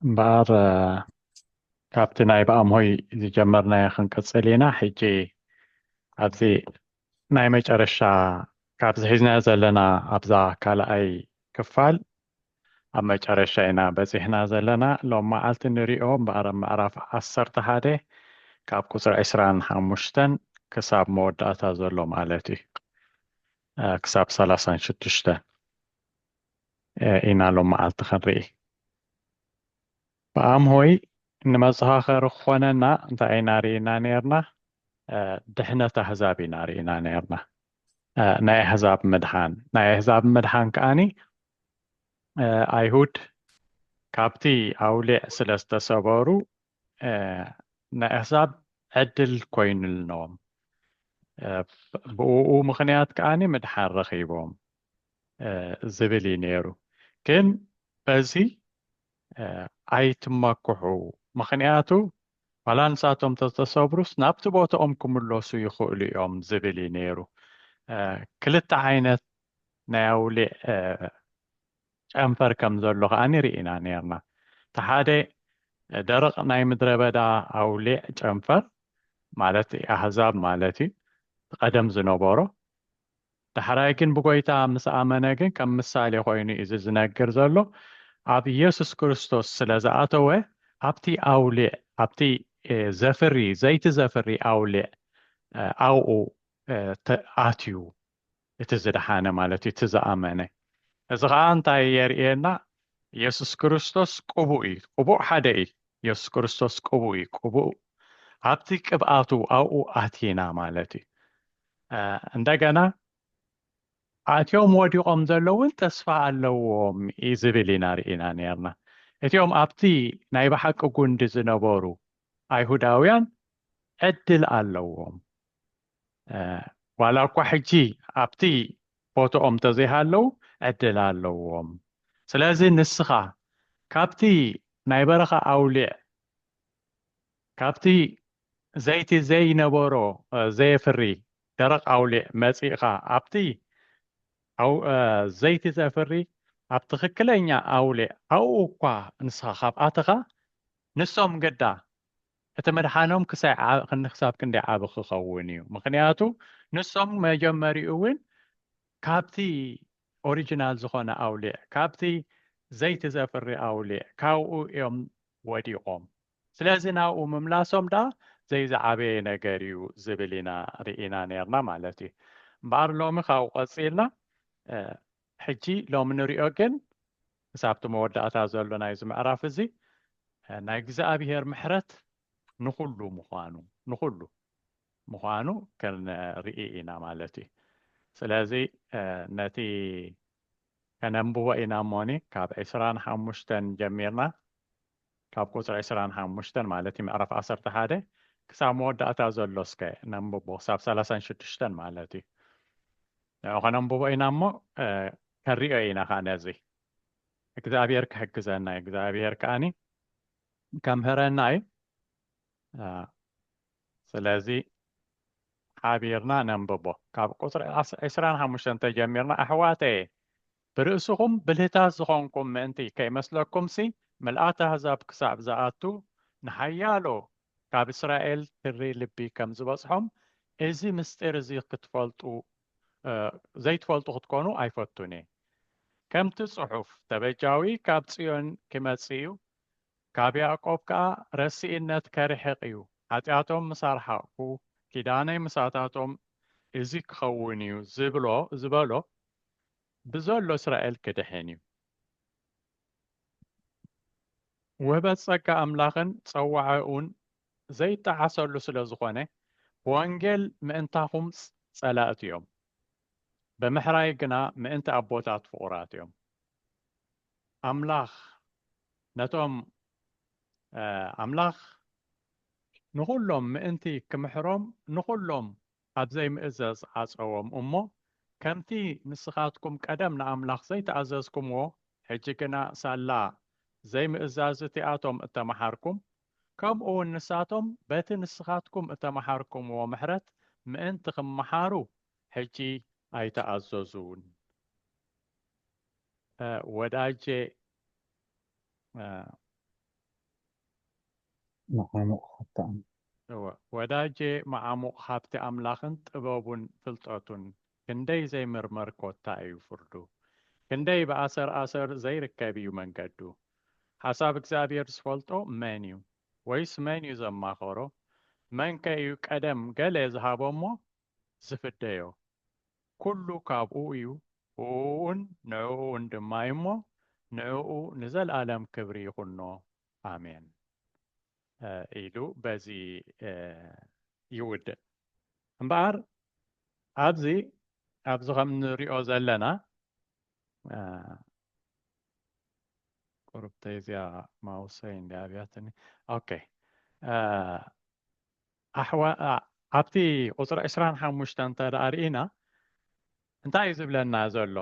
እምበኣር ካብቲ ናይ ብኣምሆይ ዝጀመርናዮ ክንቅጽል ኢና ሕጂ ኣብዚ ናይ መጨረሻ ካብዚ ሒዝናዮ ዘለና ኣብዛ ካልኣይ ክፋል ኣብ መጨረሻ ኢና በጺሕና ዘለና ሎም መዓልቲ ንሪኦ እምበኣር ኣብ ምዕራፍ ዓሰርተ ሓደ ካብ ቁጽሪ ዕስራን ሓሙሽተን ክሳብ መወዳእታ ዘሎ ማለት እዩ ክሳብ ሰላሳን ሽዱሽተ ኢና ሎም መዓልቲ ክንርኢ ብኣም ሆይ ንመዘኻኸሪ ክኾነና እንታይ ኢና ርኢና ነርና ድሕነት ኣህዛብ ኢና ርኢና ነርና ናይ ኣህዛብ ምድሓን ናይ ኣህዛብ ምድሓን ከዓኒ ኣይሁድ ካብቲ ኣውሊዕ ስለ ዝተሰበሩ ንኣህዛብ ዕድል ኮይኑልኖም ብኡ ምኽንያት ከዓኒ ምድሓን ረኺቦም ዝብል እዩ ነይሩ ግን በዚ ኣይትመክሑ ምኽንያቱ ዋላ ንሳቶም ተተሰብሩስ ናብቲ ቦታኦም ክምለሱ ይኽእሉ እዮም ዝብል እዩ ነይሩ ክልተ ዓይነት ናይ ኣውሊዕ ጨንፈር ከም ዘሎ ከኣ ርኢና ኔርና። እቲ ሓደ ደረቕ ናይ ምድረበዳ ኣውሊዕ ጨንፈር ማለት ኣህዛብ ማለት እዩ እቲ ቀደም ዝነበሮ። ዳሕራይ ግን ብጎይታ ምስ ኣመነ ግን ከም ምሳሌ ኮይኑ እዩ እዚ ዝነግር ዘሎ ኣብ ኢየሱስ ክርስቶስ ስለ ዝኣተወ ኣብቲ ኣውሊዕ ኣብቲ ዘፍሪ ዘይቲ ዘፍሪ ኣውሊዕ ኣብኡ ኣትዩ እቲ ዝደሓነ ማለት እዩ፣ እቲ ዝኣመነ። እዚ ኸኣ እንታይ የርእየና? የሱስ ክርስቶስ ቅቡእ እዩ። ቅቡእ ሓደ እዩ። የሱስ ክርስቶስ ቅቡእ እዩ። ቅቡእ ኣብቲ ቅብኣቱ ኣብኡ ኣቲና ማለት እዩ። እንደገና ኣትዮም ወዲቖም ዘለውን ተስፋ ኣለዎም እዩ ዝብል ኢና ርኢና ነርና። እቲኦም ኣብቲ ናይ ብሓቂ ጉንዲ ዝነበሩ ኣይሁዳውያን ዕድል ኣለዎም። ዋላ እኳ ሕጂ ኣብቲ ቦትኦም እንተዘይሃለው ዕድል ኣለዎም ስለዚ ንስኻ ካብቲ ናይ በረኻ ኣውሊዕ ካብቲ ዘይቲ ዘይነበሮ ዘየፍሪ ደረቕ ኣውሊዕ መጺእኻ ኣብቲ ዘይቲ ዘፍሪ ኣብ ትኽክለኛ ኣውሊዕ ኣብኡ እኳ ንስኻ ካብ ኣተኻ ንሶም ግዳ እቲ ምድሓኖም ክሳብ ክንደይ ዓቢ ክኸውን እዩ? ምኽንያቱ ንሶም መጀመሪኡ እውን ካብቲ ኦሪጅናል ዝኾነ ኣውሊዕ፣ ካብቲ ዘይቲ ዘፍሪ ኣውሊዕ ካብኡ እዮም ወዲቖም። ስለዚ ናብኡ ምምላሶም ደኣ ዘይዝዓበየ ነገር እዩ ዝብል ኢና ርኢና ኔርና ማለት እዩ። እምበኣር ሎሚ ካብኡ ቀጺልና ሕጂ ሎሚ ንሪኦ ግን ምስ ኣብቲ መወዳእታ ዘሎ ናይዚ ምዕራፍ እዚ ናይ እግዝኣብሄር ምሕረት ንኹሉ ምዃኑ ንኹሉ ምዃኑ ክንርኢ ኢና ማለት እዩ ስለዚ ነቲ ከነንብቦ ኢና እሞኒ ካብ ዕስራን ሓሙሽተን ጀሚርና ካብ ቁጽሪ ዕስራን ሓሙሽተን ማለት ምዕራፍ ዓሰርተ ሓደ ክሳብ መወዳእታ ዘሎ እስከ ነንብቦ ክሳብ ሰላሳን ሽዱሽተን ማለት እዩ ንዑ ከነንብቦ ኢና እሞ ከሪኦ ኢና ከዓ ነዚ እግዚኣብሔር ክሕግዘና እዩ እግዚኣብሔር ከዓኒ ከምህረና እዩ ስለዚ ሓቢርና ነንብቦ ካብ ቁፅሪ ዕስራን ሓሙሽተን ተጀሚርና ኣሕዋተየ ብርእስኹም ብልህታት ዝኾንኩም ምእንቲ ከይመስለኩምሲ፣ ምልኣት ኣህዛብ ክሳዕ ዝኣቱ፣ ንሓያሎ ካብ እስራኤል ትሪ ልቢ ከም ዝበጽሖም፣ እዚ ምሥጢር እዚ ኽትፈልጡ፣ ዘይትፈልጡ ኽትኮኑ ኣይፈቱን እየ። ከምቲ ጽሑፍ፣ ተበጃዊ ካብ ጽዮን ኪመጽእ እዩ፣ ካብ ያእቆብ ከኣ ረሲእነት ከርሕቕ እዩ፣ ሓጢኣቶም ምስ ኣርሓቕኩ፣ ኪዳነይ ምሳታቶም እዚ ኪኸውን እዩ ዚብሎ ዝበሎ፣ ብዘሎ እስራኤል ክድሕን እዩ። ውህበት ጸጋ ኣምላኽን ጸዋዕኡን ዘይጠዓሰሉ ስለ ዝኾነ፣ ብወንጌል ምእንታኹም ጸላእቲ እዮም፣ ብምሕራይ ግና ምእንቲ ኣቦታት ፍቑራት እዮም። ኣምላኽ ነቶም ኣምላኽ ንኹሎም ምእንቲ ክምሕሮም ንኹሎም ኣብ ዘይምእዘዝ ዓጸዎም እሞ፣ ከምቲ ንስኻትኩም ቀደም ንኣምላኽ ዘይተኣዘዝኩምዎ፣ ሕጂ ግና ሳላ ዘይምእዛዝ እቲኣቶም እተመሓርኩም፣ ከምኡውን ንሳቶም በቲ ንስኻትኩም እተመሓርኩምዎ ምሕረት ምእንቲ ኺመሓሩ ሕጂ ኣይተኣዘዙን። a ወዳጄ a። መዓሙቕ ሃብቲ ኣምላኽ። እወ ወዳጄ መዓሙቕ ሃብቲ ኣምላኽን ጥበቡን ፍልጠቱን ክንደይ ዘይምርመር ኮታ እዩ ፍርዱ ክንደይ ብኣሰር ኣሰር ዘይርከብ እዩ መንገዱ ሓሳብ እግዚኣብሔር ዝፈልጦ መን እዩ ወይስ መን እዩ ዘማኸሮ መንከ እዩ ቀደም ገለ ዝሃቦ እሞ ዝፍደዮ ኩሉ ካብኡ እዩ፣ ብእኡን ንዕኡን ድማ እዩ እሞ፣ ንዕኡ ንዘልኣለም ክብሪ ይኹኖ። ኣሜን። ኢሉ በዚ ይውድእ። እምበኣር ኣብዚ ኣብዚ ከም ንሪኦ ዘለና ቁርብተይ እዚኣ ማውሰይ እንዲ ኣብያትኒ ኦኬ ኣሕዋት ኣብቲ ቁፅሪ ዕስራን ሓሙሽተን እንተድኣ ርኢና እንታይ እዩ ዝብለና ዘሎ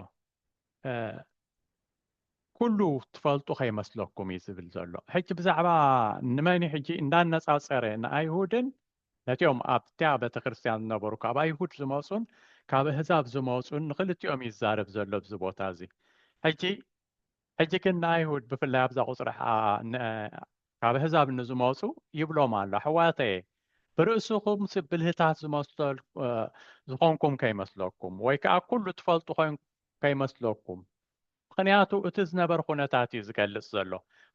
ኩሉ ትፈልጡ ከይመስለኩም እዩ ዝብል ዘሎ ሕጂ ብዛዕባ ንመን እዩ ሕጂ እንዳነፃፀረ ንኣይሁድን ነቲኦም ኣብቲያ ቤተክርስትያን ዝነበሩ ካብ ኣይሁድ ዝመፁን ካብ እህዛብ ዝመፁን ንክልቲኦም ይዛረብ ዘሎ ብዚ ቦታ እዚ ሕጂ ሕጂ ግን ንኣይሁድ ብፍላይ ኣብዛ ቁፅሪ ካብ ኣህዛብ ንዝመፁ ይብሎም ኣሎ ኣሕዋተየ ብርእስኹም ብልህታት ዝመሰል ዝኾንኩም ከይመስለኩም ወይ ከዓ ኩሉ ትፈልጡ ኮን ከይመስለኩም ምክንያቱ እቲ ዝነበር ኩነታት እዩ ዝገልፅ ዘሎ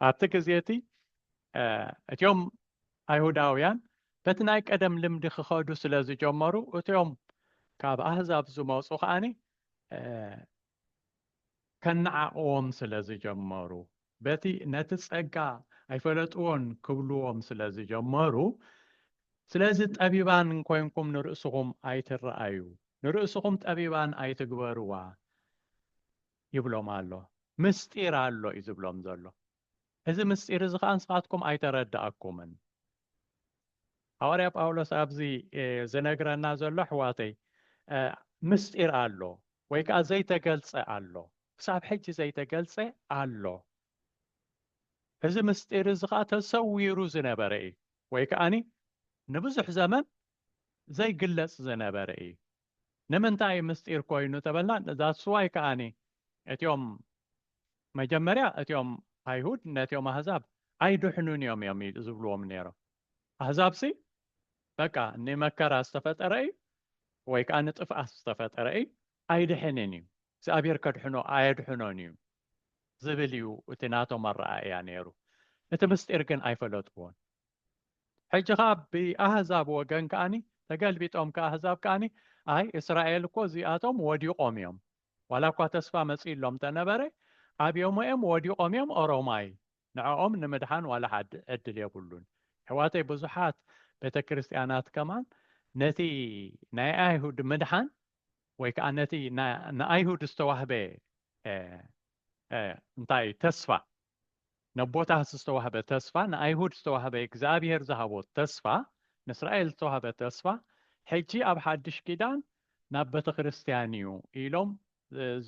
ኣብቲ ግዜ እቲ እትዮም ኣይሁዳውያን በቲ ናይ ቀደም ልምዲ ክኸዱ ስለ ዝጀመሩ እትዮም ካብ ኣህዛብ ዝመፁ ከዓኒ ከነዓቕዎም ስለ ዝጀመሩ፣ በቲ ነቲ ጸጋ ኣይፈለጥዎን ክብልዎም ስለ ዝጀመሩ፣ ስለዚ ጠቢባን ኮይንኩም ንርእስኹም ኣይትረኣዩ፣ ንርእስኹም ጠቢባን ኣይትግበርዋ ይብሎም ኣሎ። ምስጢር ኣሎ እዩ ዝብሎም ዘሎ። እዚ ምስጢር እዚ ኸኣ ንስኻትኩም ኣይተረድኣኩምን። ሃዋርያ ጳውሎስ ኣብዚ ዝነግረና ዘሎ ኣሕዋተይ ምስጢር ኣሎ ወይ ከኣ ዘይተገልጸ ኣሎ፣ ክሳብ ሕጂ ዘይተገልጸ ኣሎ። እዚ ምስጢር እዚ ኸኣ ተሰዊሩ ዝነበረ እዩ ወይ ከኣ ንብዙሕ ዘመን ዘይግለጽ ዝነበረ እዩ። ንምንታይ እዩ ምስጢር ኮይኑ ተበልና that's why ከኣኒ እቲኦም መጀመርያ እቲኦም ኣይሁድ ነቲኦም ኣህዛብ ኣይድሕኑን እዮም እዮም ዝብልዎም ነይሮም ኣህዛብሲ በቃ ንመከራ ዝተፈጠረ እዩ ወይ ከዓ ንጥፍኣት ዝተፈጠረ እዩ ኣይድሕንን እዩ እግዚኣብሔር ከድሕኖ ኣየድሕኖን እዩ ዝብል እዩ እቲ ናቶም ኣረኣእያ ነይሩ እቲ ምስጢር ግን ኣይፈለጥዎን ሕጂ ከኣ ብኣህዛብ ወገን ከኣኒ ተገልቢጦም ከኣ ኣህዛብ ከኣኒ ኣይ እስራኤል እኮ እዚኣቶም ወዲቆም እዮም ዋላ እኳ ተስፋ መጺእሎም ተነበረ ኣብዮሞ እዮም ወዲቆም እዮም ኦሮማይ ንዕኦም ንምድሓን ዋላ ሓድ ዕድል የብሉን ኣሕዋተይ ብዙሓት ቤተ ክርስትያናት ከማን ነቲ ናይ ኣይሁድ ምድሓን ወይ ከኣ ነቲ ንኣይሁድ ዝተዋህበ እንታይ ተስፋ ነቦታት ዝተዋህበ ተስፋ ንኣይሁድ ዝተዋህበ እግዝኣብሄር ዝሃቦ ተስፋ ንእስራኤል ዝተዋህበ ተስፋ ሕጂ ኣብ ሓድሽ ኪዳን ናብ በተክርስትያን እዩ ኢሎም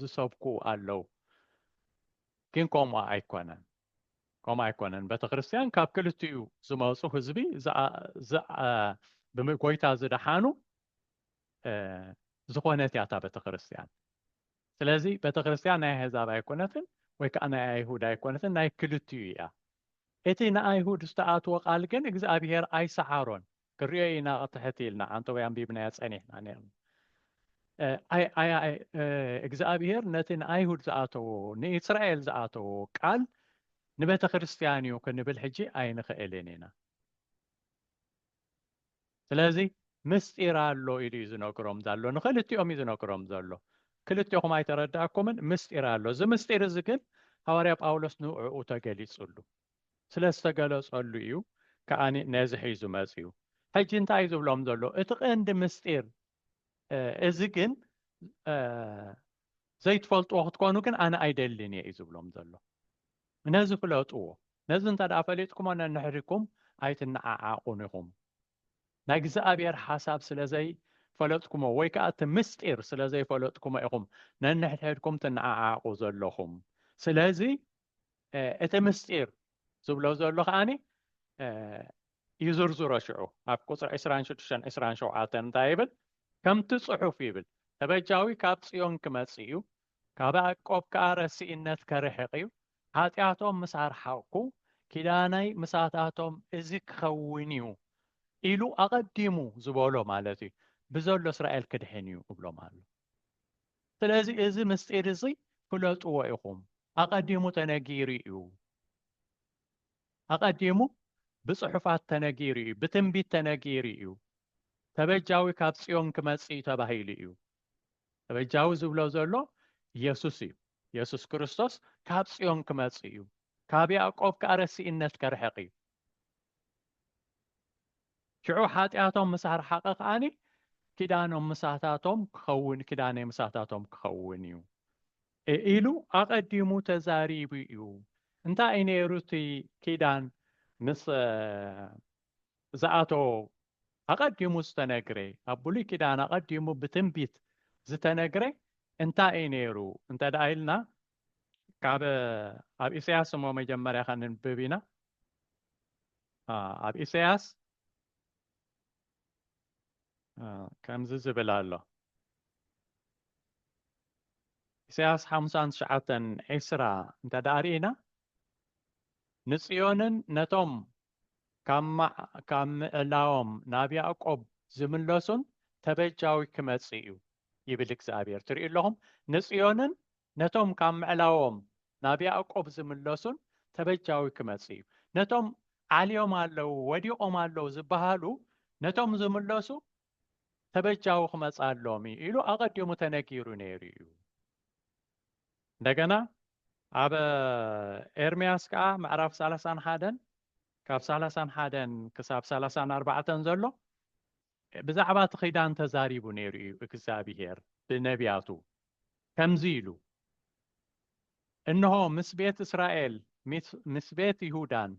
ዝሰብኩ ኣለው ግን ከምኡ ኣይኮነን ከምኡ ኣይኮነን በተክርስትያን ካብ ክልቲኡ ዝመጹ ህዝቢ ብምጎይታ ዝደሓኑ ዝኾነት እያ እታ ቤተክርስትያን ስለዚ ቤተክርስትያን ናይ ኣሕዛብ ኣይኮነትን ወይ ከኣ ናይ ኣይሁድ ኣይኮነትን ናይ ክልቲኡ ኢያ። እቲ ንኣይሁድ ዝተኣትወ ቃል ግን እግዝኣብሄር ኣይሰዓሮን ክንሪኦ ኢና ክትሕት ኢልና ዓንተቦይ ኣንቢብናዮ ጸኒሕና ኔርና እግዝኣብሄር ነቲ ንኣይሁድ ዝኣተዎ ንእስራኤል ዝኣተዎ ቃል ንቤተክርስትያን ኢዩ ክንብል ሕጂ ኣይንኽእልን ኢና። ስለዚ ምስጢር ኣሎ ኢሉ እዩ ዝነግሮም ዘሎ ንክልቲኦም እዩ ዝነግሮም ዘሎ ክልቴኹም ኣይተረዳእኩምን ምስጢር ኣሎ እዚ ምስጢር እዚ ግን ሃዋርያ ጳውሎስ ንዕኡ ተገሊጹሉ ስለ ዝተገለጸሉ እዩ ከዓ ነዚ ሒዙ መፅኡ ሕጂ እንታይ እዩ ዝብሎም ዘሎ እቲ ቀንዲ ምስጢር እዚ ግን ዘይትፈልጥዎ ክትኮኑ ግን ኣነ ኣይደልን እየ እዩ ዝብሎም ዘሎ። ነዚ ፍለጥዎ። ነዚ እንተ ደኣ ፈሊጥኩሞ ነንሕድኩም ኣይትነዓዓቑን ኢኹም። ናይ እግዚኣብሔር ሓሳብ ስለ ዘይፈለጥኩሞ ወይ ከኣ እቲ ምስጢር ስለ ዘይፈለጥኩሞ ኢኹም ነንሕድሕድኩም ትነዓዓቑ ዘለኹም። ስለዚ እቲ ምስጢር ዝብሎ ዘሎ ከዓኒ ይዝርዝሮ ሽዑ ኣብ ቁፅሪ ዕስራን ሽዱሽተን ዕስራን ሸውዓተን እንታይ ይብል ከምቲ ፅሑፍ ይብል ተበጃዊ ካብ ፅዮን ክመፅእ እዩ ካብ ያዕቆብ ከዓ ረሲእነት ከርሕቕ እዩ ሓጢኣቶም ምስ ኣርሓቕኩ ኪዳነይ ምሳታቶም እዚ ክኸውን እዩ ኢሉ ኣቐዲሙ ዝበሎ ማለት እዩ ብዘሎ እስራኤል ክድሕን እዩ እብሎም ኣሎ ስለዚ እዚ ምስጢር እዚ ፍለጥዎ ኢኹም። ኣቐዲሙ ተነጊሩ እዩ። ኣቐዲሙ ብጽሑፋት ተነጊሩ እዩ፣ ብትንቢት ተነጊሩ እዩ። ተበጃዊ ካብ ጽዮን ክመጽእ እዩ ተባሂሉ እዩ። ተበጃዊ ዝብሎ ዘሎ ኢየሱስ እዩ። ኢየሱስ ክርስቶስ ካብ ጽዮን ክመጽእ እዩ፣ ካብ ያዕቆብ ከኣ ረሲእነት ከርሕቕ እዩ። ሽዑ ሓጢኣቶም ምስ ኣርሓቐ ከኣ ኪዳኖም ምሳታቶም ክኸውን ኪዳነይ ምሳታቶም ክኸውን እዩ ኢሉ ኣቐዲሙ ተዛሪቡ እዩ። እንታይ እዩ ነይሩ እቲ ኪዳን ምስ ዝኣተዎ ኣቐዲሙ ዝተነግረ ኣብ ብሉይ ኪዳን ኣቐዲሙ ብትንቢት ዝተነግረ እንታይ እዩ ነይሩ እንተ ኢልና ካብ ኣብ ኢሰያስ እሞ መጀመርያ ከንብብ ኢና ኣብ ኢሰያስ ከምዚ ዝብል ኣሎ ኢሰያስ ሓሙሳን ትሽዓተን ዒስራ እንተ ዳኣ ርኢና ንጽዮንን ነቶም ካብ ምእላዎም ናብ ያእቆብ ዚምለሱን ተበጃዊ ኪመጽእ እዩ ይብል እግዚኣብሄር። ትርእዩ ኣለኹም፣ ንጽዮንን ነቶም ካብ ምዕላዎም ናብ ያእቆብ ዚምለሱን ተበጃዊ ኪመጽእ እዩ። ነቶም ዓልዮም ኣለዉ፣ ወዲቖም ኣለዉ ዚበሃሉ ነቶም ዚምለሱ ተበጃዊ ክመጽኣሎም እዩ ኢሉ ኣቐዲሙ ተነጊሩ ነይሩ እዩ። እንደገና ኣብ ኤርምያስ ከኣ ምዕራፍ ሰላሳን ሓደን ካብ ሰላሳን ሓደን ክሳብ ሰላሳን ኣርባዕተን ዘሎ ብዛዕባ እቲ ኺዳን ተዛሪቡ ነይሩ እዩ እግዚኣብሄር ብነቢያቱ ከምዚ ኢሉ እንሆ ምስ ቤት እስራኤል ምስ ቤት ይሁዳን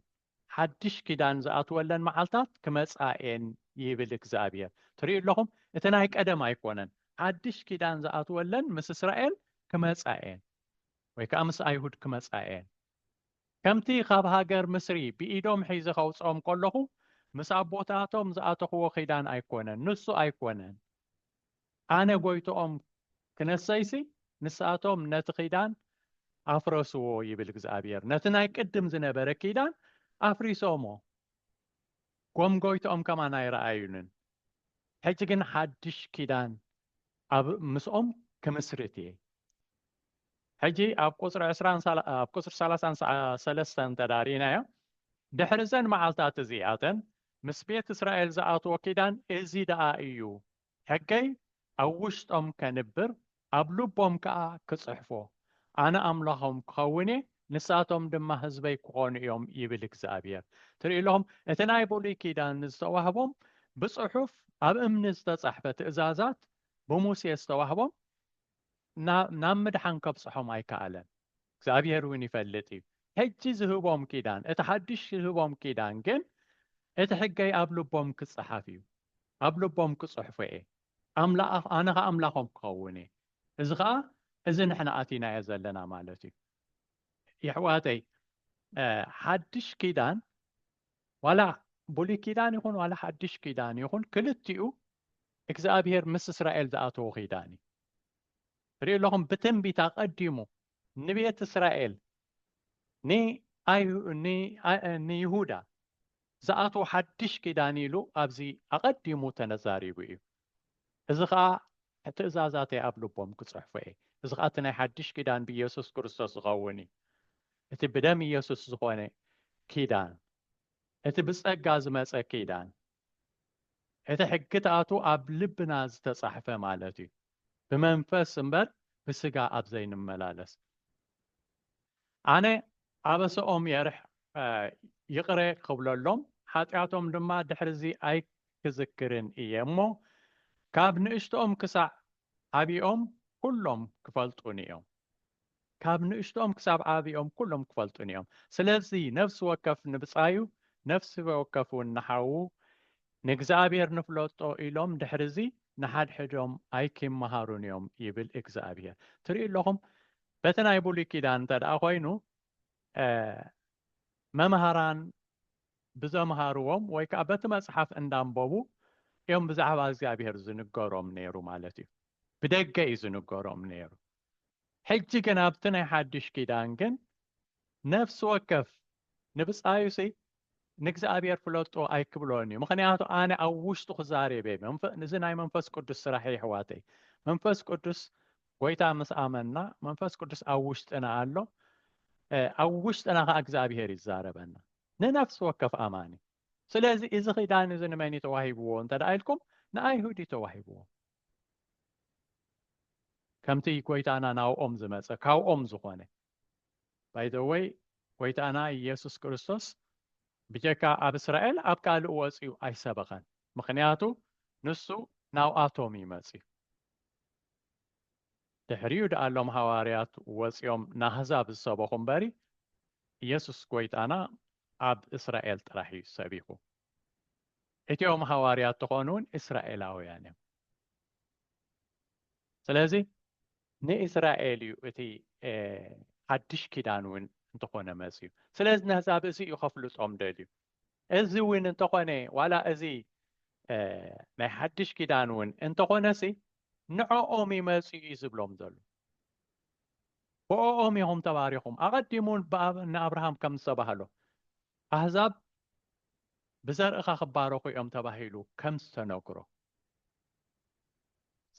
ሓድሽ ኪዳን ዝኣትወለን መዓልታት ክመጽኣ እየን ይብል እግዚኣብሄር። ትርእዩ ኣለኹም እቲ ናይ ቀደም ኣይኮነን። ሓድሽ ኪዳን ዝኣትወለን ምስ እስራኤል ክመጻ እየን ወይ ከኣ ምስ ኣይሁድ ክመጻ እየን። ከምቲ ካብ ሃገር ምስሪ ብኢዶም ሒዘ ከውጽኦም ከለኹ ምስ ኣቦታቶም ዝኣተኽዎ ኪዳን ኣይኮነን፣ ንሱ ኣይኮነን። ኣነ ጐይትኦም ክነሰይሲ፣ ንሳቶም ነቲ ኪዳን ኣፍረስዎ ይብል እግዚኣብሄር። ነቲ ናይ ቅድም ዝነበረ ኪዳን ኣፍሪሶሞ፣ ኮም ጐይትኦም ከማን ኣይረኣዩንን። ሕጂ ግን ሓድሽ ኪዳን ኣብ ምስኦም ክምስርት እየ። ሕጂ ኣብ ቁጽሪ ዕስራን ሳላ ኣብ ቁጽሪ ሰላሳን ሰ ሰለስተን እንተ ርኢናዮ፣ ድሕሪ እዘን መዓልትታት እዚኣተን ምስ ቤት እስራኤል ዝኣትዎ ኪዳን እዚ ደኣ እዩ ሕገይ ኣብ ውሽጦም ከንብር፣ ኣብ ልቦም ከኣ ክጽሕፎ፣ ኣነ ኣምላኾም ክኸውን እየ፣ ንሳቶም ድማ ህዝበይ ክኾኑ እዮም ይብል እግዚኣብሄር። ትርኢ ኣለኹም፣ እቲ ናይ ብሉይ ኪዳን ዝተዋህቦም ብጽሑፍ ኣብ እምኒ ዝተጻሕፈ ትእዛዛት ብሙሴ ዝተዋህቦም፣ ናብ ምድሓን ከብጽሖም ኣይከኣለን። እግዚኣብሄር እውን ይፈልጥ እዩ። ሕጂ ዝህቦም ኪዳን፣ እቲ ሓድሽ ዝህቦም ኪዳን ግን እቲ ሕገይ ኣብ ልቦም ክጸሓፍ እዩ፣ ኣብ ልቦም ክጽሕፎ እየ፣ ኣነ ኸኣ ኣምላኾም ክኸውን እየ። እዚ ኸኣ እዚ ንሕና ኣቲናዮ ዘለና ማለት እዩ። የሕዋተይ ሓድሽ ኪዳን ዋላ ብሉይ ኪዳን ይኹን ዋላ ሓድሽ ኪዳን ይኹን ክልቲኡ እግዚኣብሄር ምስ እስራኤል ዝኣተዎ ኪዳን እዩ ርእዩ ኣለኹም ብትንቢት ኣቐዲሙ ንቤት እስራኤል ንይሁዳ ዝኣትዎ ሓድሽ ኪዳን ኢሉ ኣብዚ ኣቐዲሙ ተነዛሪቡ እዩ እዚ ኸኣ ትእዛዛተይ ኣብ ልቦም ክጽሕፎ እየ። እዚ ኸኣ እቲ ናይ ሓድሽ ኪዳን ብኢየሱስ ክርስቶስ ዝኸውን እዩ። እቲ ብደም ኢየሱስ ዝኾነ ኪዳን፣ እቲ ብጸጋ ዝመጸ ኪዳን፣ እቲ ሕግታቱ ኣብ ልብና ዝተጻሕፈ ማለት እዩ፣ ብመንፈስ እምበር ብሥጋ ኣብ ዘይንመላለስ። ኣነ ኣበሰኦም የርሕ ይቅረ ክብለሎም ሓጥያቶም ድማ ድሕሪዚ ኣይክዝክርን እየ እሞ ካብ ንእሽትኦም ክሳዕ ዓቢኦም ኩሎም ክፈልጡኒ እዮም ካብ ንእሽትኦም ክሳብ ዓቢኦም ኩሎም ክፈልጡኒ እዮም ስለዚ ነፍሲ ወከፍ ንብጻዩ ነፍሲ ወከፍ ውን ንሓዉ ንእግዚኣብሔር ንፍለጦ ኢሎም ድሕሪዚ ንሓድሕዶም ኣይኪመሃሩን እዮም ይብል እግዚኣብሔር ትሪኡ ኣለኹም በቲ ናይ ብሉይ ኪዳን እንተድኣ ኮይኑ መምሃራን ብዘምሃርዎም ወይ ከዓ በቲ መፅሓፍ እንዳንበቡ እዮም ብዛዕባ እግዚኣብሔር ዝንገሮም ነይሩ ማለት እዩ። ብደገ እዩ ዝንገሮም ነይሩ። ሕጂ ግን ኣብቲ ናይ ሓድሽ ኪዳን ግን ነፍሲ ወከፍ ንብጻዩሲ ንእግዚኣብሔር ፍለጦ ኣይክብሎን እዩ ምክንያቱ ኣነ ኣብ ውሽጡ ክዛሬቤ እዚ ናይ መንፈስ ቅዱስ ስራሕ የሕዋተይ መንፈስ ቅዱስ ጎይታ ምስ ኣመና መንፈስ ቅዱስ ኣብ ውሽጥና ኣሎ ኣብ ውሽጥና ከዓ እግዚኣብሄር ይዛረበና ንነፍሲ ወከፍ ኣማኒ ስለዚ እዚ ኪዳን እዚ ንመን እዩ ተዋሂብዎ እንተ ኢልኩም ንኣይሁድ እዩ ተዋሂብዎ ከምቲ ጎይታና ናብኦም ዝመፀ ካብኦም ዝኾነ ባይ ዘ ወይ ጎይታና ኢየሱስ ክርስቶስ ብጀካ ኣብ እስራኤል ኣብ ካልእ ወጽዩ ኣይሰበኸን ምኽንያቱ ንሱ ናብኣቶም እዩ መጽዩ ድሕሪኡ ደኣ ሎም ሃዋርያት ወጽዮም ናህዛብ ዝሰበኹ እምበሪ ኢየሱስ ጎይታና ኣብ እስራኤል ጥራሕ እዩ ሰቢኹ እቲኦም ሃዋርያት ተኾኑ እውን እስራኤላውያን እዮም ስለዚ ንእስራኤል እዩ እቲ ሓድሽ ኪዳን እውን እንተኾነ መፅዩ ስለዚ ነህዛብ እዚ እዩ ከፍልጦም ደልዩ እዚ እውን እንተኾነ ዋላ እዚ ናይ ሓድሽ ኪዳን እውን እንተኾነሲ ንዕኦም እዩ መፅኡ እዩ ዝብሎም ዘሎ ብኦም ኢኹም ተባሪኹም ኣቐዲሙ ንኣብርሃም ከም ዝተባህሎ ኣህዛብ ብዘርእኻ ክባረኹ እዮም ተባሂሉ ከም ዝተነግሮ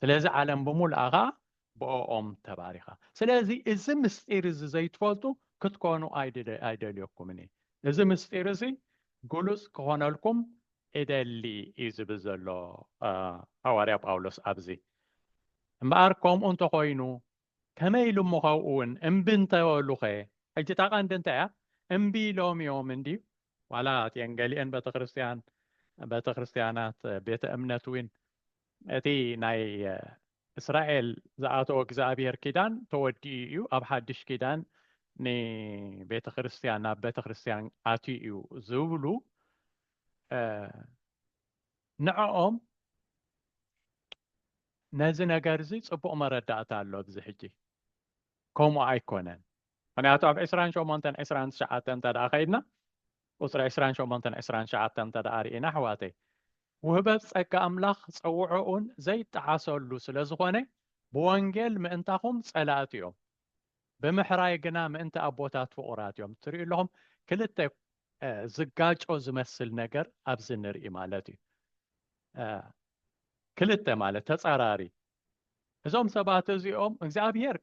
ስለዚ ዓለም ብምሉኣ ኸኣ ብኦኦም ተባሪኻ። ስለዚ እዚ ምስጢር እዚ ዘይትፈልጡ ክትኮኑ ኣይደልየኩምን እየ። እዚ ምስጢር እዚ ግሉጽ ክኾነልኩም እደሊ እዩ ዝብል ዘሎ ሃዋርያ ጳውሎስ ኣብዚ። እምበኣር ከምኡ እንተኾይኑ ከመይ ኢሉ እሞ ካብኡ እውን እምቢ እንተበሉኸ ሕጂ እታ ቀንዲ እንታይ እያ እምቢ ኢሎም እዮም እንድዩ ዋላ እቲኤን ገሊኤን ቤተክርስትያን ቤተክርስትያናት ቤተ እምነት ዊን እቲ ናይ እስራኤል ዝኣተዎ እግዚኣብሔር ኪዳን ተወዲኡ እዩ ኣብ ሓድሽ ኪዳን ንቤተ ክርስትያን ናብ ቤተ ክርስትያን ኣትዩ እዩ ዝብሉ ንዕኦም ነዚ ነገር እዚ ፅቡቅ መረዳእታ ኣሎ ኣብዚ ሕጂ ከምኡ ኣይኮነን ምክንያቱ ኣብ ዕስራን ሸሞንተን ዕስራን ትሽዓተን እንተደኣ ከይድና ቁፅሪ ዕስራን ሸሞንተን ዕስራን ትሽዓተን እንተደኣ ርኢና ኣሕዋተይ ውህበት ጸጋ ኣምላኽ ጸውዖኡን ዘይጠዓሰሉ ስለ ዝኾነ ብወንጌል ምእንታኹም ጸላእቲ እዮም ብምሕራይ ግና ምእንቲ ኣቦታት ፍቑራት እዮም ትርእዩ ኣለኹም ክልተ ዝጋጮ ዝመስል ነገር ኣብዚ ንርኢ ማለት እዩ ክልተ ማለት ተጻራሪ እዞም ሰባት እዚኦም እግዚኣብሄር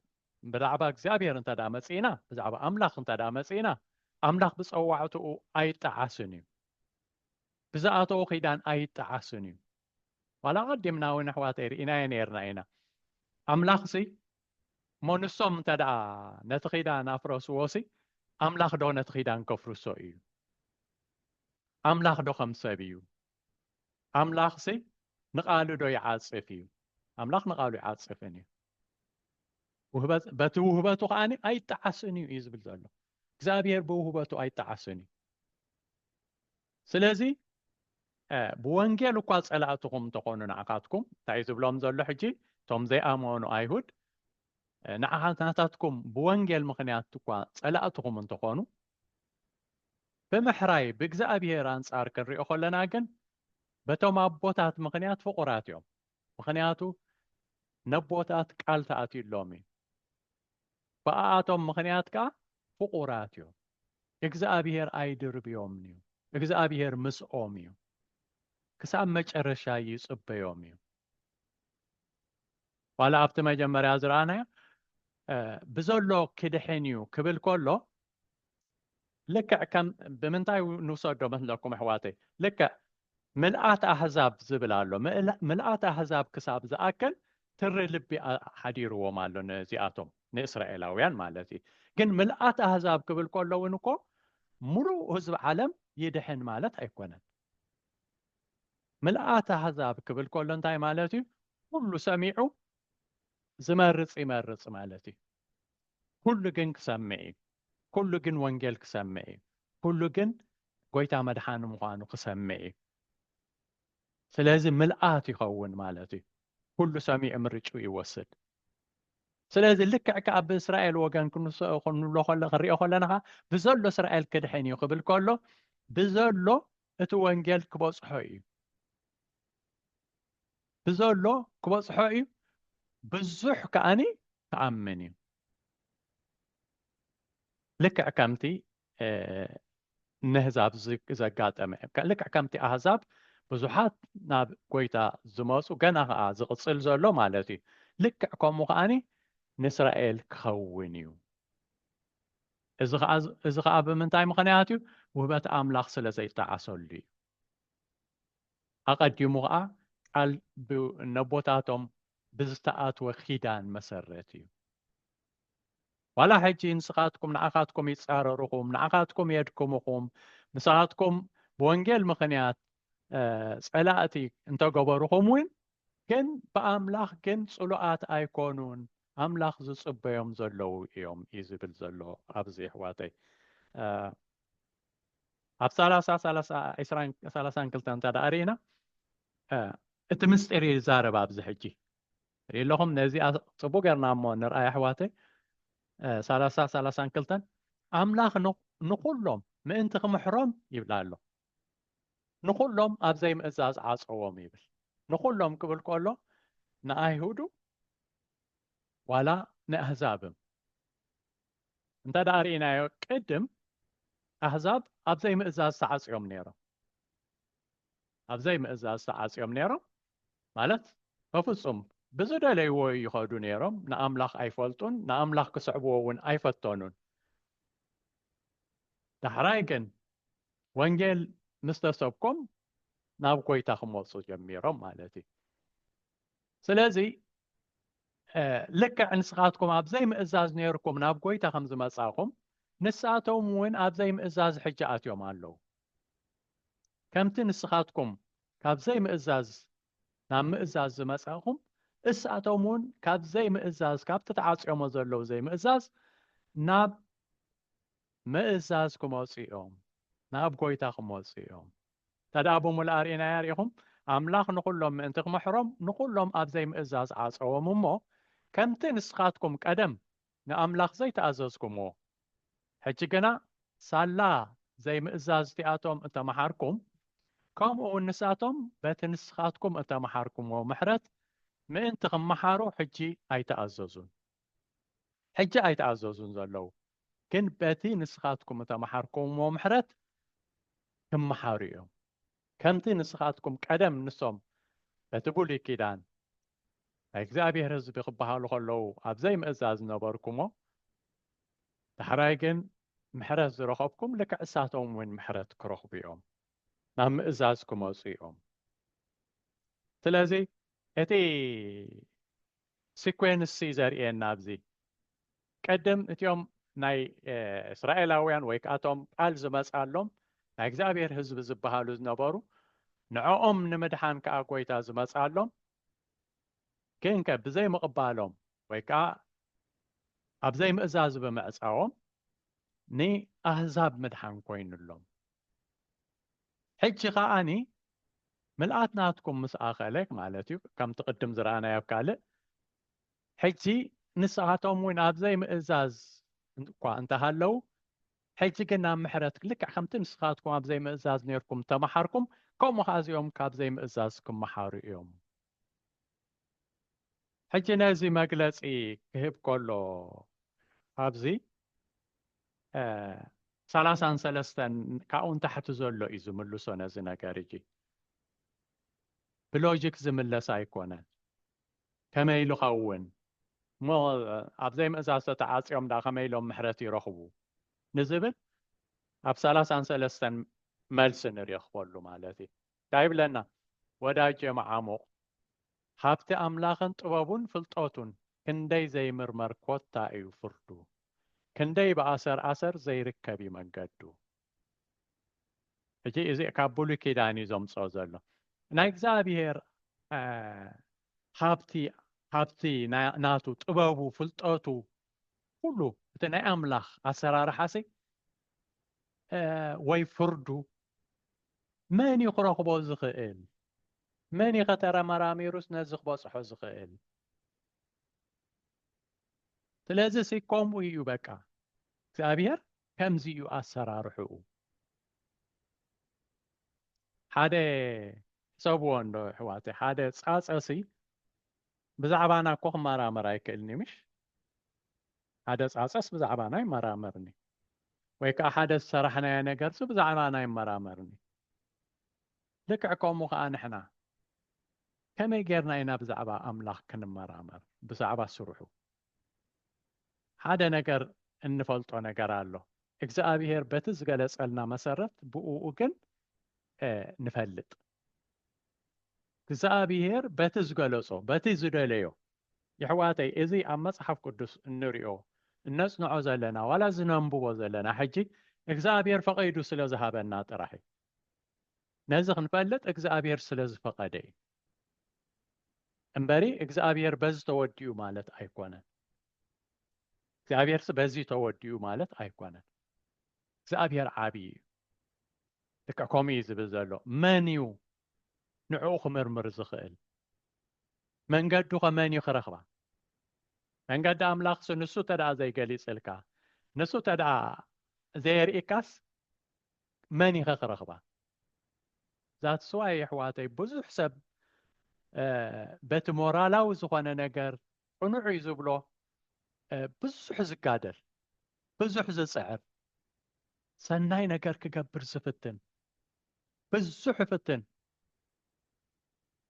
ብዛዕባ እግዚኣብሄር እንተ ደኣ መጺእና ብዛዕባ ኣምላኽ እንተ ደኣ መጺእና ኣምላኽ ብጸዋዕትኡ ኣይጠዓስን እዩ ብዝኣተዎ ኺዳን ኣይጠዓስን እዩ ዋላ ቀዲምና እውን ኣሕዋተይ ርኢናዮ ነርና ኢና ኣምላኽ ሲ እሞ ንሶም እንተ ደኣ ነቲ ኺዳን ኣፍረስዎ ሲ ኣምላኽ ዶ ነቲ ኺዳን ከፍርሶ እዩ ኣምላኽ ዶ ከም ሰብ እዩ ኣምላኽሲ ንቓሉ ዶ ይዓጽፍ እዩ? ኣምላኽ ንቓሉ ይዓጽፍን እዩ። በቲ ውህበቱ ከዓኒ ኣይጠዓስን እዩ እዩ ዝብል ዘሎ እግዚኣብሔር ብውህበቱ ኣይጠዓስን እዩ ስለዚ ብወንጌል እኳ ፀላእትኹም እንተኾኑ ንዓኻትኩም እንታይ ዝብሎም ዘሎ ሕጂ እቶም ዘይኣመኑ ኣይሁድ ንዓኻትናታትኩም ብወንጌል ምክንያት እኳ ፀላእትኹም እንተኾኑ ብምሕራይ ብእግዚኣብሔር ኣንጻር ክንሪኦ ከለና ግን በቶም ኣቦታት ምኽንያት ፍቑራት እዮም። ምኽንያቱ ነቦታት ቃል ተኣትዩሎም እዩ። ብኣኣቶም ምኽንያት ከኣ ፍቑራት እዮም። እግዚኣብሔር ኣይድርብዮምን እዩ። እግዚኣብሔር ምስኦም እዩ። ክሳብ መጨረሻ ይጽበዮም እዩ። ዋላ ኣብቲ መጀመርያ ዝረኣናዮ ብዘሎ ክድሕን እዩ ክብል ከሎ ልክዕ ከም ብምንታይ ንውሰዶ መስለኩም ኣሕዋተይ ልክዕ ምልኣት ኣህዛብ ዝብል ኣሎ ምልኣት ኣህዛብ ክሳብ ዝኣክል ትሪ ልቢ ሓዲርዎም ኣሎ ነዚኣቶም ንእስራኤላውያን ማለት እዩ ግን ምልኣት ኣህዛብ ክብል ከሎ እውን እኮ ሙሉእ ህዝቢ ዓለም ይድሕን ማለት ኣይኮነን ምልኣት ኣሕዛብ ክብል ከሎ እንታይ ማለት እዩ? ኩሉ ሰሚዑ ዝመርጽ ይመርጽ ማለት እዩ። ኩሉ ግን ክሰምዕ እዩ። ኩሉ ግን ወንጌል ክሰምዕ እዩ። ኩሉ ግን ጎይታ መድሓኒ ምዃኑ ክሰምዕ እዩ። ስለዚ ምልኣት ይኸውን ማለት እዩ። ኩሉ ሰሚዑ ምርጭኡ ይወስድ። ስለዚ ልክዕ ከኣ ብእስራኤል ወገን ክንብሎ ክንሪኦ ከለና ከኣ ብዘሎ እስራኤል ክድሕን እዩ ክብል ከሎ ብዘሎ እቲ ወንጌል ክበፅሖ እዩ ብዘሎ ክበፅሖ እዩ ብዙሕ ከኣኒ ክኣምን እዩ ልክዕ ከምቲ ነህዛብ ዘጋጠመ ልክዕ ከምቲ ኣህዛብ ብዙሓት ናብ ጎይታ ዝመፁ ገና ከዓ ዝቕፅል ዘሎ ማለት እዩ ልክዕ ከምኡ ከዓኒ ንእስራኤል ክኸውን እዩ እዚ ከዓ ብምንታይ ምኽንያት እዩ ውህበት ኣምላኽ ስለ ዘይጠዓሰሉ እዩ ኣቐዲሙ ከዓ ቃል ነቦታቶም ብዝተኣትወ ኪዳን መሰረት እዩ ዋላ ሕጂ ንስኻትኩም ንኣኻትኩም ይጻረሩኹም ንኣኻትኩም የድክሙኹም ንስኻትኩም ብወንጌል ምኽንያት ጸላእቲ እንተገበሩኹም እውን ግን ብኣምላኽ ግን ጽሉኣት ኣይኮኑን ኣምላኽ ዝጽበዮም ዘለዉ እዮም እዩ ዝብል ዘሎ ኣብዚ ኣሕዋተይ ኣብ ሰላሳ ሰላሳን ክልተ እንተ ደኣ ርኢና እቲ ምስጢር ይዛረብ ኣብዚ ሕጂ ሪኢለኹም ነዚኣ ጽቡቅ ገርና እሞ ንርኣ የሕዋተይ ሰላሳ ሰላሳን ክልተን ኣምላኽ ንኹሎም ምእንቲ ክምሕሮም ይብላ ኣሎ ንኹሎም ኣብ ዘይምእዛዝ ዓጸዎም ይብል ንኹሎም ክብል ከሎ ንኣይሁዱ ዋላ ንኣህዛብም እንተ ደኣ ርኢናዮ ቅድም ኣህዛብ ኣብ ዘይምእዛዝ ተዓጽዮም ነይሮም ኣብ ዘይምእዛዝ ተዓጽዮም ነይሮም ማለት በፍጹም ብዝደለይዎ ይኸዱ ነይሮም ንኣምላኽ ኣይፈልጡን ንኣምላኽ ክስዕብዎ እውን ኣይፈተኑን ዳሕራይ ግን ወንጌል ምስ ተሰብኮም ናብ ጎይታ ክመፁ ጀሚሮም ማለት እዩ ስለዚ ልክዕ ንስኻትኩም ኣብ ዘይምእዛዝ ነይርኩም ናብ ጎይታ ከም ዝመጻኹም ንሳቶም እውን ኣብ ዘይምእዛዝ ሕጂ ኣትዮም ኣለዉ ከምቲ ንስኻትኩም ካብ ዘይምእዛዝ ናብ ምእዛዝ ዝመጸእኹም፣ እሳቶምውን ካብ ዘይምእዛዝ ካብቲ ተዓጽዮሞ ዘለዉ ዘይምእዛዝ ናብ ምእዛዝ ክመጹ እዮም፣ ናብ ጐይታ ክመጹ እዮም። እንተደኣ ብምሉኣ ርኢናያ ርኢኹም፣ ኣምላኽ ንዅሎም ምእንቲ ክምሕሮም ንዅሎም ኣብ ዘይምእዛዝ ዓጸዎም እሞ፣ ከምቲ ንስኻትኩም ቀደም ንኣምላኽ ዘይተኣዘዝኩምዎ። ሕጂ ግና ሳላ ዘይምእዛዝ እቲኣቶም እተመሓርኩም፣ ከምኡውን ንሳቶም በቲ ንስኻትኩም እተመሓርኩምዎ ምሕረት ምእንቲ ኺመሓሩ ሕጂ ኣይተኣዘዙን። ሕጂ ኣይተኣዘዙን ዘለዉ ግን በቲ ንስኻትኩም እተመሓርኩምዎ ምሕረት ኪመሓሩ እዮም፣ ከምቲ ንስኻትኩም ቀደም ንሶም በቲ ብሉይ ኪዳን ናይ እግዚኣብሔር ህዝቢ ክበሃሉ ከለዉ ኣብ ዘይምእዛዝ ዝነበርኩሞ ዳሕራይ ግን ምሕረት ዝረኸብኩም ልክዕ እሳቶም እውን ምሕረት ክረኽቡ እዮም ናብ ምእዛዝ ክመፁ እዮም ስለዚ እቲ ሲኮንስ ዘርእየና ኣብዚ ቀደም እቲኦም ናይ እስራኤላውያን ወይ ከኣ እቶም ቃል ዝመጽኣሎም ናይ እግዚኣብሔር ህዝቢ ዝበሃሉ ዝነበሩ ንዕኦም ንምድሓን ከኣ ጐይታ ዝመጽኣሎም ግንከ ብዘይምቕባሎም ወይ ከኣ ኣብ ዘይምእዛዝ ብምዕጻዎም ንኣህዛብ ምድሓን ኮይኑሎም ሕጂ ከኣኒ ምልኣት ናትኩም ምስ ኣኸለ ማለት እዩ ከምቲ ቅድም ዝረኣናዮ ኣብ ካልእ ሕጂ ንስኻቶም እውን ኣብ ዘይምእዛዝ እኳ እንተሃለው ሕጂ ግን ናብ ምሕረት ልክዕ ከምቲ ንስኻትኩም ኣብ ዘይምእዛዝ ነርኩም ተመሓርኩም ከምኡ ከዓ እዚኦም ካብ ዘይምእዛዝ ክመሓሩ እዮም ሕጂ ነዚ መግለፂ ክህብ ከሎ ኣብዚ ሰላሳን ሰለስተን ካብኡ ንታሕቲ ዘሎ እዩ ዝምልሶ ነዚ ነገር እጂ ብሎጂክ ዝምለስ ኣይኮነን ከመይ ኢሉ ኸውን እሞ ኣብ ዘይምእዛዞ ተዓጽዮም ድኣ ከመይ ኢሎም ምሕረት ይረኽቡ ንዝብል ኣብ ሰላሳን ሰለስተን መልሲ ንሬኽበሉ ማለት እዩ እንታይ ይብለና ወዳጄ መዓሙቕ ሃብቲ ኣምላኽን ጥበቡን ፍልጠቱን ክንደይ ዘይምርመር ኮታ እዩ ፍርዱ ክንደይ ብኣሰር ኣሰር ዘይርከብ እዩ መንገዱ ሕጂ እዚ ካብ ብሉይ ኪዳን እዩ ዘምፅኦ ዘሎ ናይ እግዚኣብሄር ሃብቲ ሃብቲ ናቱ ጥበቡ ፍልጠቱ ኩሉ እቲ ናይ ኣምላኽ ኣሰራርሓሲ ወይ ፍርዱ መን እዩ ክረኽቦ ዝኽእል መን እዩ ከተረመራሚሩስ ነዚ ክበፅሖ ዝኽእል ስለዚ ሲ ከምኡ እዩ በቃ እግዚኣብሄር ከምዚ እዩ ኣሰራርሕኡ። ሓደ ሕሰብዎ እንዶ ኣሕዋተይ፣ ሓደ ጻጸሲ ብዛዕባና እኮ ክመራመር ኣይክእልን እዩ ምሽ? ሓደ ጻጸስ ብዛዕባና ይመራመርን እዩ። ወይ ከዓ ሓደ ዝሰራሕናዮ ነገርሲ ብዛዕባና ይመራመርን እዩ። ልክዕ ከምኡ ከዓ ንሕና ከመይ ጌርና ኢና ብዛዕባ ኣምላኽ ክንመራመር? ብዛዕባ ስርሑ፣ ሓደ ነገር እንፈልጦ ነገር ኣሎ እግዝኣብሄር በቲ ዝገለጸልና መሰረት ብእኡ ግን ንፈልጥ እግዚኣብሄር በቲ ዝገለጾ በቲ ዝደለዮ የሕዋተይ እዚ ኣብ መጽሓፍ ቅዱስ እንሪኦ እነጽንዖ ዘለና ዋላ ዝነንብቦ ዘለና ሕጂ እግዚኣብሄር ፈቐይዱ ስለ ዝሃበና ጥራሕ እዩ ነዚ ክንፈልጥ እግዚኣብሄር ስለ ዝፈቐደ እዩ እምበሪ እግዚኣብሔር በዚ ተወዲኡ ማለት ኣይኮነን እግዚኣብሔርሲ በዚ ተወዲኡ ማለት ኣይኮነን እግዚኣብሔር ዓብዪ እዩ ልክዕ ከምኡ እዩ ዝብል ዘሎ መን እዩ ንዕኡ ክምርምር ዝኽእል መንገዱ ከመን እዩ ክረኽባ መንገዲ ኣምላኽሲ ንሱ ተደኣ ዘይገሊፅልካ ንሱ ተደኣ ዘየርኢካስ መን ኢኸ ክረኽባ ዛት ስዋይ የሕዋተይ ብዙሕ ሰብ በቲ ሞራላዊ ዝኾነ ነገር ቅኑዕ እዩ ዝብሎ ብዙሕ ዝጋደል ብዙሕ ዝፅዕር ሰናይ ነገር ክገብር ዝፍትን ብዙሕ ይፍትን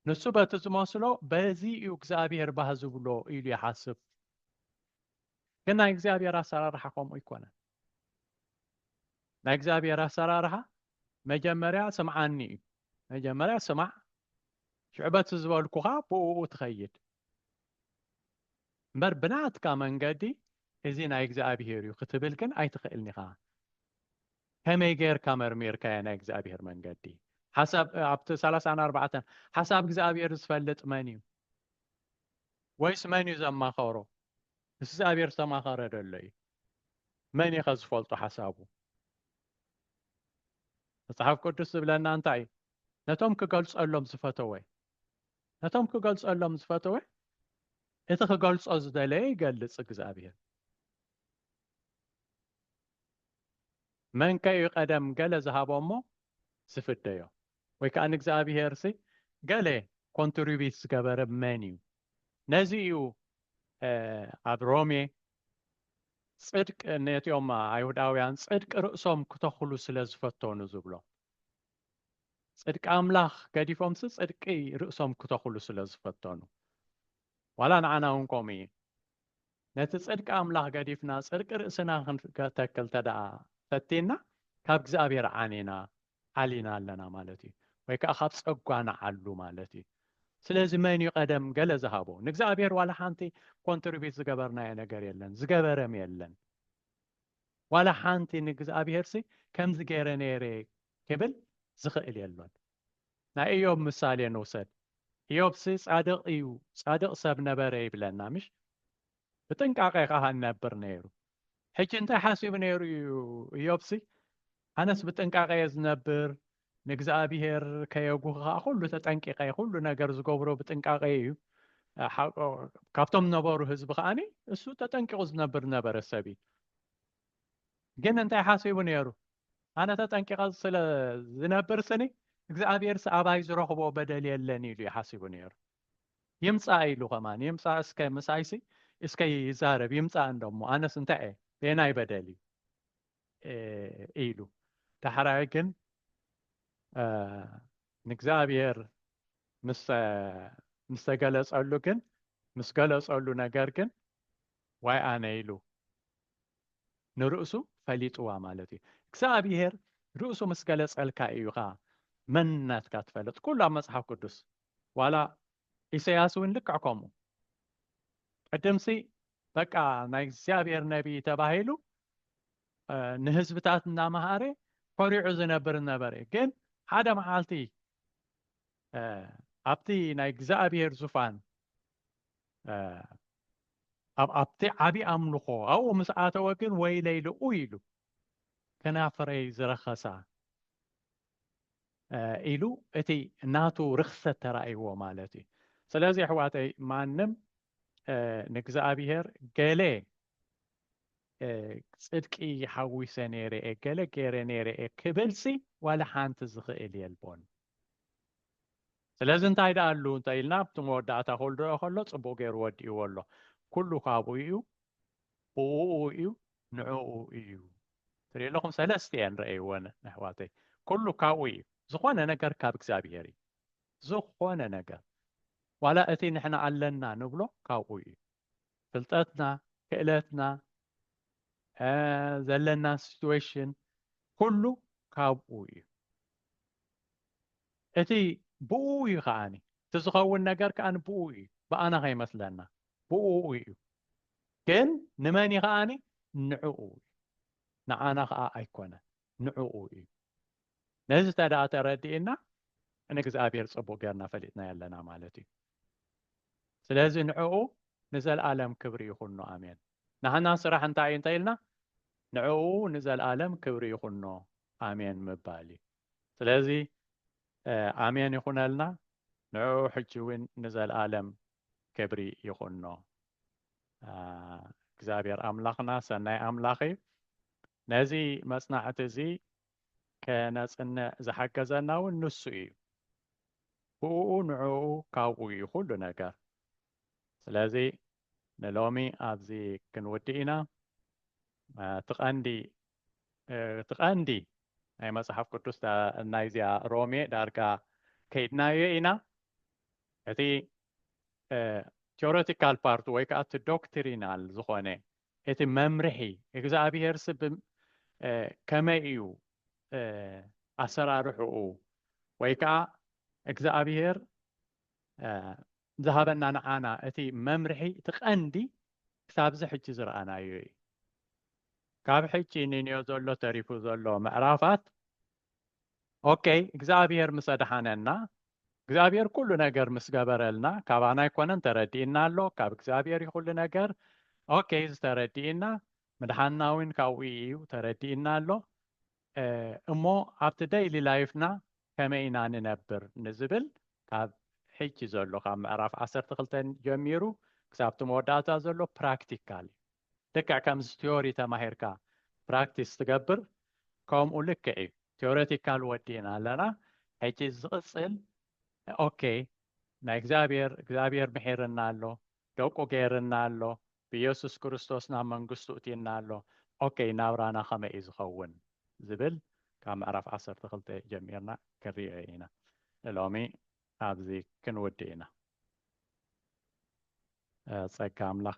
ንሱ በቲ ዝመስሎ በዚ እዩ እግዚኣብሔር ባህ ዝብሎ ኢሉ ይሓስብ ግን ናይ እግዚኣብሔር ኣሰራርሓ ከምኡ ኣይኮነን ናይ እግዚኣብሔር ኣሰራርሓ መጀመርያ ስምዓኒ እዩ መጀመርያ ስማዕ ሽዑ በቲ ዝበልኩኻ ብእኡ ትኸይድ እምበር ብናትካ መንገዲ እዚ ናይ እግዚኣብሔር እዩ ክትብል ግን ኣይትኽእልን ኢኻ ከመይ ጌርካ መርሚርካዮ ናይ እግዚኣብሔር መንገዲ ሓሳብ ኣብቲ ሰላሳን ኣርባዕተን ሓሳብ እግዚኣብሔር ዝፈልጥ መን እዩ ወይስ መን እዩ ዘማኸሮ ምስ እግዚኣብሔር ዝተማኸረ ደሎ እዩ መን ኢኸ ዝፈልጦ ሓሳቡ? መጽሓፍ ቅዱስ ዝብለና እንታይ እዩ? ነቶም ክገልጸሎም ዝፈተወ ነቶም ክገልጸሎም ዝፈተወ እቲ ክገልጾ ዝደለየ ይገልጽ እግዚኣብሔር መንከ እዩ ቀደም ገለ ዝሃቦ እሞ ዝፍደዮ ወይ ከዓ ንእግዚኣብሔር ሲ ገለ ኮንትሪቢት ዝገበረ መን እዩ ነዚ እዩ ኣብ ሮሜ ጽድቅ ነቲኦም ኣይሁዳውያን ጽድቅ ርእሶም ክተኽሉ ስለ ዝፈተኑ ዝብሎ ጽድቂ ኣምላኽ ገዲፎምሲ ጽድቂ ርእሶም ክተኽሉ ስለ ዝፈተኑ ዋላ ንዓና እውን ከምኡ እዩ ነቲ ጽድቂ ኣምላኽ ገዲፍና ጽድቂ ርእስና ክንተክል ተደኣ ፈቲና ካብ እግዚኣብሔር ዓኒና ዓሊና ኣለና ማለት እዩ ወይ ከኣ ካብ ጸጓ ንዓሉ ማለት እዩ ስለዚ መን እዩ ቀደም ገለ ዝሃቦ ንእግዚኣብሔር ዋላ ሓንቲ ኮንትሪቢት ዝገበርናዮ ነገር የለን ዝገበረም የለን ዋላ ሓንቲ ንእግዚኣብሔርሲ ከምዚ ገይረ ነይረ ክብል ዝኽእል የሎን ናይ እዮብ ምሳሌ ንውሰድ እዮብሲ ጻድቕ እዩ ጻድቕ ሰብ ነበረ ይብለና ምሽ ብጥንቃቐ ኸዓ እነብር ነይሩ ሕጂ እንታይ ሓሲቡ ነይሩ እዩ እዮብሲ? ኣነስ ብጥንቃቐ እየ ዝነብር፣ ንእግዚኣብሄር ከየጉህ ኸኣ ዅሉ ተጠንቂቐ እየ፣ ዅሉ ነገር ዝገብሮ ብጥንቃቐ እዩ። ካብቶም ነበሩ ህዝቢ ከኣ እሱ ተጠንቂቑ ዝነብር ነበረ ሰብ እዩ። ግን እንታይ ሓሲቡ ነይሩ? ኣነ ተጠንቂቐ ስለ ዝነብር ስኒ እግዚኣብሄርሲ ኣባይ ዝረኽቦ በደል የለን ኢሉ እዩ ሓሲቡ ነይሩ። ይምጻእ ኢሉ ከማን ይምጻእ እስከ ምሳይሲ እስከ ይዛረብ ይምጻእ እንደሞ ኣነስ እንታይ እየ የናይ በደል እዩ ኢሉ ዳሕራይ ግን ንእግዚኣብሔር ምስ ተገለጸሉ ግን ምስ ገለጸሉ ነገር ግን ዋይ ኣነ ኢሉ ንርእሱ ፈሊጥዋ ማለት እዩ እግዚኣብሔር ርእሱ ምስ ገለጸልካ እዩኻ መንነትካ ትፈለጥ ኩሉ ኣብ መጽሓፍ ቅዱስ ዋላ ኢሰያስ ውን ልክዕ ከምኡ ቅድምሲ በቃ ናይ እግዚኣብሔር ነቢይ ተባሂሉ ንህዝብታት እናመሃረ ኮሪዑ ዝነብር ነበረ ግን ሓደ መዓልቲ ኣብቲ ናይ እግዚኣብሔር ዙፋን ኣብ ኣብቲ ዓብዪ ኣምልኾ ኣብኡ ምስ ኣተወ ግን ወይለይ ልኡ ኢሉ ከናፍረይ ዝረኸሳ ኢሉ እቲ ናቱ ርኽሰት ተራእይዎ ማለት እዩ ስለዚ ኣሕዋተይ ማንም ንእግዚኣብሄር ገለ ጽድቂ ሓዊሰ ነይረ እየ ገለ ገይረ ነይረ እየ ክብልሲ ዋላ ሓንቲ ዝኽእል የልቦን ስለዚ እንታይ ደኣ ኣሉ እንተ ኢልና ኣብቲ መወዳእታ ክልድኦ ከሎ ጽቡቕ ገይሩ ወዲእዎ ኣሎ ኩሉ ካብኡ እዩ ብኡኡ እዩ ንዕኡ እዩ ትሪኡ ኣለኹም ሰለስተ እየን ረእይወን ኣሕዋተይ ኩሉ ካብኡ እዩ ዝኾነ ነገር ካብ እግዚኣብሄር እዩ ዝኾነ ነገር ዋላ እቲ ንሕና ኣለና ንብሎ ካብኡ እዩ ፍልጠትና ክእለትና ዘለና ሲትዌሽን ኩሉ ካብኡ እዩ እቲ ብኡ እዩ ከዓኒ እቲ ዝኸውን ነገር ከዓኒ ብኡ እዩ ብኣና ከይመስለና ብኡ እዩ ግን ንመን እዩ ከኣ ንዕኡ እዩ ንዓና ከኣ ኣይኮነን ንዕኡ እዩ ነዚ ተደኣ ተረዲእና ንእግዚኣብሔር ጽቡቅ ገርና ፈሊጥናዮ ኣለና ማለት እዩ ስለዚ ንዕኡ ንዘለኣለም ክብሪ ይኹኖ ኣሜን ንሕና ስራሕ እንታይ እዩ እንተኢልና ንዕኡ ንዘለኣለም ክብሪ ይኹኖ ኣሜን ምባል እዩ ስለዚ ኣሜን ይኹነልና ንዕኡ ሕጂ እውን ንዘለኣለም ክብሪ ይኹኖ እግዚኣብሔር ኣምላኽና ሰናይ ኣምላኽ እዩ ነዚ መፅናዕቲ እዚ ከነፅንዕ ዝሓገዘና እውን ንሱ እዩ ብኡ ንዕኡ ካብኡ እዩ ኩሉ ነገር ስለዚ ንሎሚ ኣብዚ ክንውድእ ኢና እቲ ቀንዲ እቲ ቀንዲ ናይ መፅሓፍ ቅዱስ ናይዚኣ ሮሜ ዳርጋ ከይድናዮ ኢና እቲ ቴዎሬቲካል ፓርት ወይ ከዓ እቲ ዶክትሪናል ዝኾነ እቲ መምርሒ እግዚኣብሔር ስብ ከመይ እዩ ኣሰራርሕኡ ወይ ከዓ እግዚኣብሔር ዝሃበና ንዓና እቲ መምርሒ እቲ ቀንዲ ክሳብዚ ሕጂ ዝረኣናዮ እዩ ካብ ሕጂ ንንዮ ዘሎ ተሪፉ ዘሎ ምዕራፋት ኦኬ እግዚኣብሔር ምስ ኣድሓነና እግዚኣብሔር ኩሉ ነገር ምስ ገበረልና ካባና ኣይኮነን ተረዲእና ኣሎ ካብ እግዚኣብሔር እዩ ኩሉ ነገር ኦኬ ዝተረዲእና ምድሓንና እውን ካብኡ እዩ ተረዲእና ኣሎ እሞ ኣብቲ ደይሊ ላይፍና ከመይ ኢና ንነብር ንዝብል ካብ ሕጂ ዘሎ ካብ ምዕራፍ ዓሰርተ ክልተን ጀሚሩ ክሳብቲ መወዳእታ ዘሎ ፕራክቲካል እዩ ልክዕ ከምዚ ቲዮሪ ተማሂርካ ፕራክቲስ ትገብር ከምኡ ልክዕ እዩ ቴዎሬቲካል ወዲእና ኣለና ሕጂ ዝቕጽል ኦኬ ናይ እግዚኣብሔር እግዚኣብሔር ምሒርና ኣሎ ደቁ ገይርና ኣሎ ብኢየሱስ ክርስቶስ ናብ መንግስቱ እቲና ኣሎ ኦኬ ናብራና ከመይ እዩ ዝኸውን ዝብል ካብ ምዕራፍ ዓሰርተ ክልተ ጀሚርና ክንሪኦ ኢና ንሎሚ ኣብዚ ክንውድእ ኢና ጸጋ ኣምላኽ